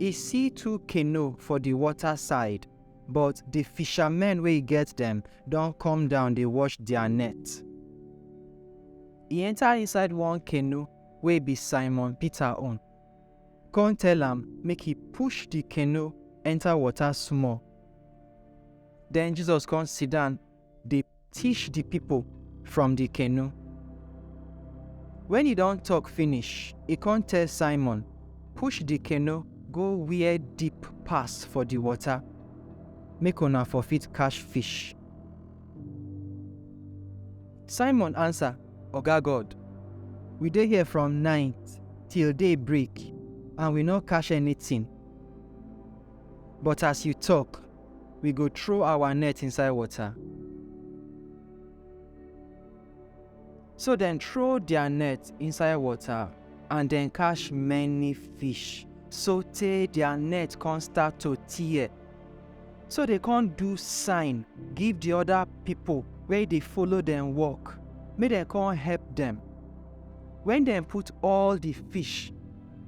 E si two keno for di wota side, bot di fishamen wey e get dem don kom down dey wosh dia net. E enta inside one keno wey bi Simon Pita own, kon tel am make e push di keno enta wota smol. Den Jisos kon sidan dey teach di pipo from di canoe. Wen e don tok finish, e con tell Simon, Push di canoe go where deep pass for di water, make una for fit catch fish. Simon ansa, Oga God, we dey here from night till day break and we nor catch anytin. But as you tok, we go throw our net inside water. So dem throw their net inside water and dem catch many fish so tey their net come start to tear. So they come do sign give the other people wey dey follow dem work make dem come help dem. When dem put all the fish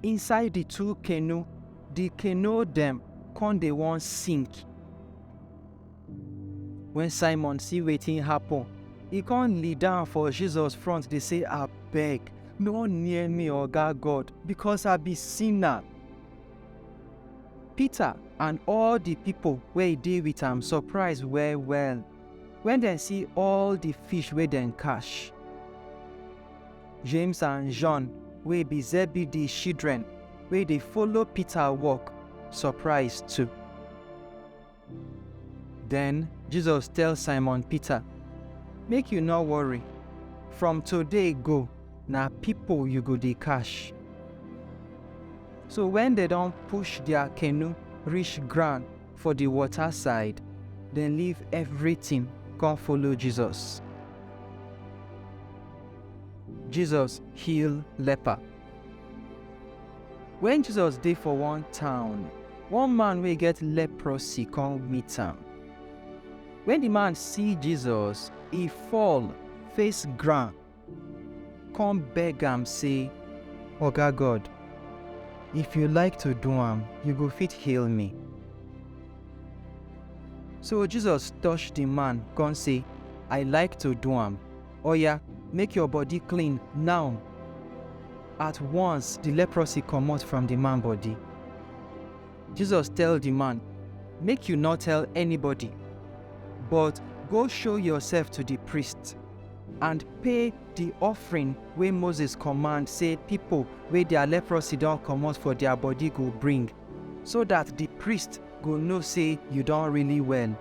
inside the two canoe Di canoe dem kon dey won sink. Wen Simon si wetin happen, e kon lidown for Jesus front dey sey, Abeg, nor near mi, Oga God, bikos I bi sina. Pita and all di pipol wey dey with am sopraiz well-well wen dem si all di fish wey dem kash. James and Jon wey be Zebedee shidren wey dey follow Pita wok, sopraiz too. Den, Jesus tel Simon Pita, Make yu nor worry, from today go, na pipo yu go dey kash. So wen dem don push dia kenu rish groun for di wota said, dem leave evritin kon follow Jesus. Jesus heal leper. Wen Jesus dey for one town, one man wey get leprosy come meet am. Wen di man see Jesus, e fall face ground, come beg am sey, Oga God, if you like to do am, you go fit heal me. So Jesus touch di man, come sey, I like to do am. Oya, make your body clean now! At once, the leprosy comot from the man body. Jesus tell the man, Make you no tell anybody, but go show yourself to the priest and pay the offering wey Moses command say people wey their leprosy don comot for their body go bring. so that the priest go know say you don really well.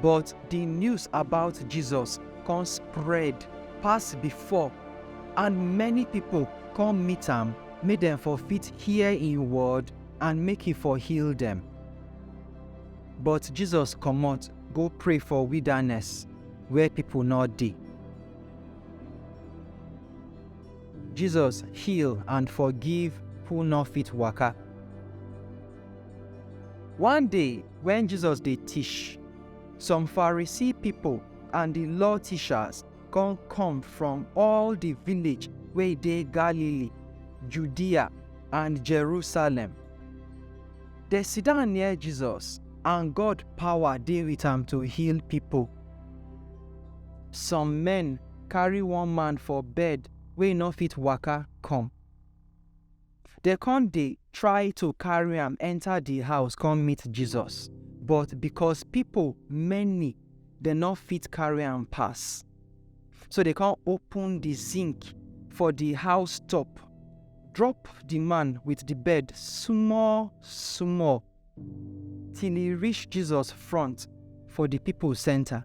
But the news about Jesus come spread pass before, and many people come meet am make dem for fit hear im word and make he for heal dem. But Jesus comot go pray for wilderness where people no dey. Jesus heal and forgive who no fit waka. One day when Jesus dey teach, some Pharisee people and the law teachers come come from all the village wey dey Galilee, Judea and Jerusalem. They sit down near Jesus and God power dey with am to heal people. Some men carry one man for bed wey e no fit waka come. Dem come dey try to carry am enter the house come meet Jesus, but because people many, dem no fit carry am pass. So dem come open the zinc for the house top, drop the man with the bed small small till e reach Jesus front for the people center.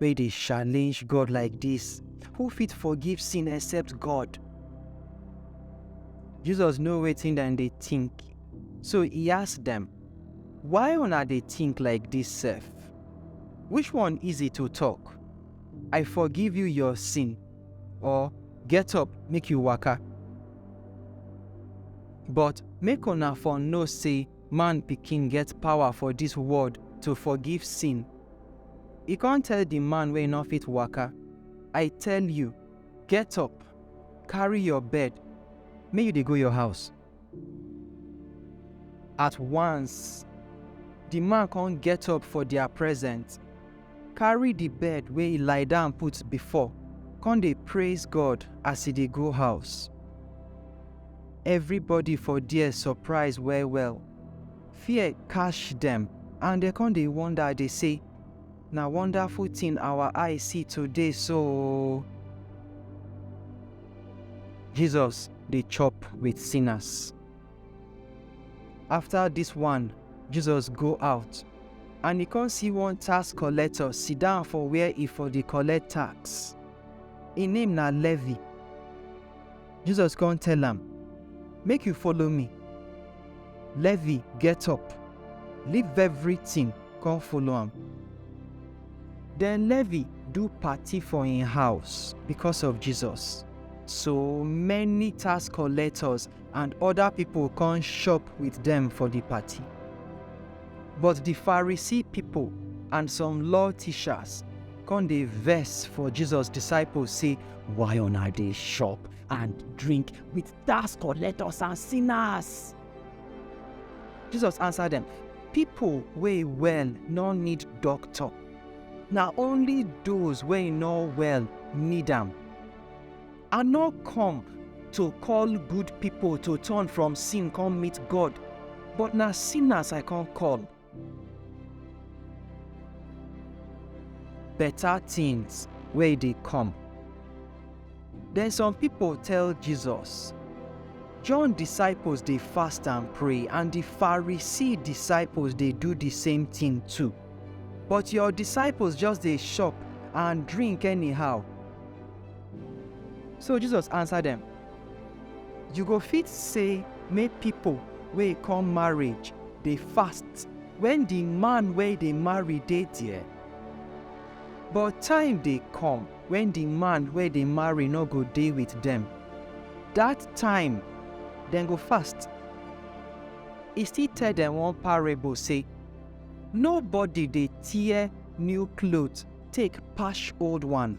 wey dey challenge God like dis, who fit forgive sin except God? Jesus know wetin dem dey think, so e ask dem, Why una dey think like dis sef? Which one easy to talk, I forgive you your sin, or Get up, make you waka? But make una for know sey Man Pikin get power for dis world to forgive sin E kon tell di man wey nor fit waka, I tell yu, get up, karry yor bed, make yu dey go yor house. At wans, di man kon get up for dia present, karry di bed wey e lie down put before, kon dey praiz God as e dey go house. Evribody for der sopraiz well-well. Fear catch dem and dem come dey wonder dey say, Na wonderful thing our eye see today so o! Jesus dey chop with sinners. After dis one, Jesus go out and e come see one tax collector sit down for where e for dey collect tax. Im name na Levi. Jesus come tell am, Make you follow me. Levi get up, leave everything, come follow am. Then Levi do party for im house because of Jesus. So many tax collectors and other people come shop with them for the party. But the Pharisee people and some law teachers come dey vex for Jesus disciples say Why on I dey shop and drink with tax collectors and sinners? Jesus answer dem, Pipo wey well no need doctor, na only those wey no well need am. I no come to call good pipo to turn from sin come meet God, but na sinners I come call. Better things wey dey come. Then some people tell Jesus, John disciples dey fast and pray, and the Pharisee disciples dey do the same thing too. But your disciples just dey chop and drink anyhow. So Jesus answer them, You go fit say make pipo wey come marriage dey fast wen di man wey dey marry dey there, but time dey come wen di man wey dey marry no go dey with dem, dat time dem go fast. E still tell dem one parable say, Nobody dey tear new cloth take patch old one.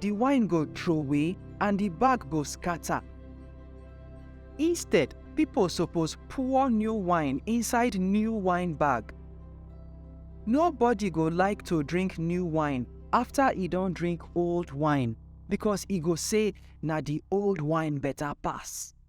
di wine go troway and di bag go scatter. Instead, pipo suppose pour new wine inside new wine bag. Nobody go like to drink new wine after e don drink old wine because e go say na di old wine better pass.